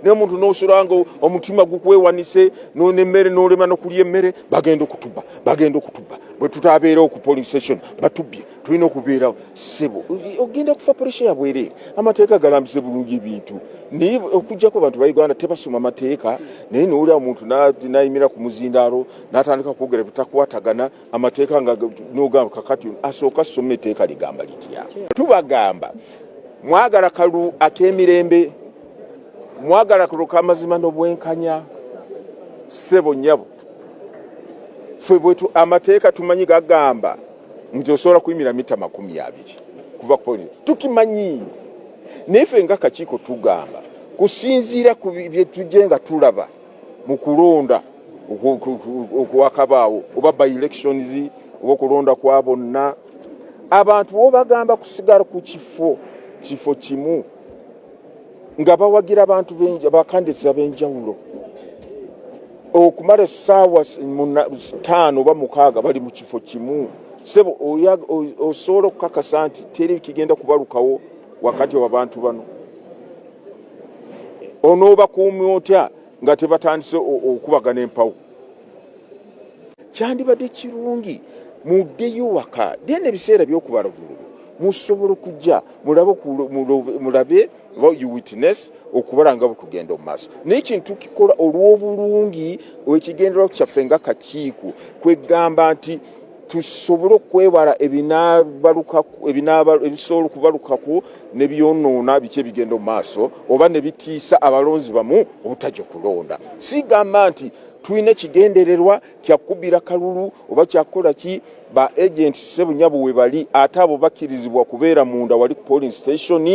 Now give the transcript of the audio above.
naye omuntu nosula nga omutima gukwewanise nemmere nolema nokulya emmere bagenda okutuba bagenda okutuba bwetutabeerawo ku polling station batubye tulina okubeerawo sebo ogenda kufa puresha yabwereere amateeka galambise bulungi ebintu naye okujjako bantu ba uganda tebasoma amateeka naye nowulira omuntu nayimira ku muzindaalo natandika kwogera bitakwatagana amateeka nga nogamba kakati asooka soma eteeka ligamba litya tubagamba mwagala kalu akemirembe mwagala kuloka amazima n'obwenkanya ssebo nyabo ffe bwetu amateeka tumanyi gagamba nti osobola kuyimira mita makumi abiri kuva ku polisi tukimanyi naye ffe nga kakiiko tugamba kusinziira ku byetujje nga tulaba mu kulonda okwakabaawo oba by elections oba okulonda kwa bonna abantu bobagamba kusigala ku kifo kifo kimu nga bawagira abantu bakandidates ab'enjawulo okumala essaawa taano oba mukaaga bali mu kifo kimu sebo osobola okukakasa nti teri kigenda kubalukawo wakati wa bantu bano onoobakuumi otya nga tebatandise okubagana empawo kyandibadde kirungi muddeyo waka then ebiseera byokubala obululu musobola okujja mulabe mulabe you witness okubala nga bwekugenda omu maaso naye kintu kikola olw'obulungi ekigenderao kyaffe nga kakiiko kwegamba nti tusobole okwewala ebisobola okubalukako nebyonoona biki ebigenda mu maaso oba nebitiisa abalonzi bamu obutajja okulonda sigamba nti tulina ekigendererwa kyakubira kalulu oba kyakukola ki ba agents sebunyabo webali ate abo bakkirizibwa kubeera munda wali ku polling station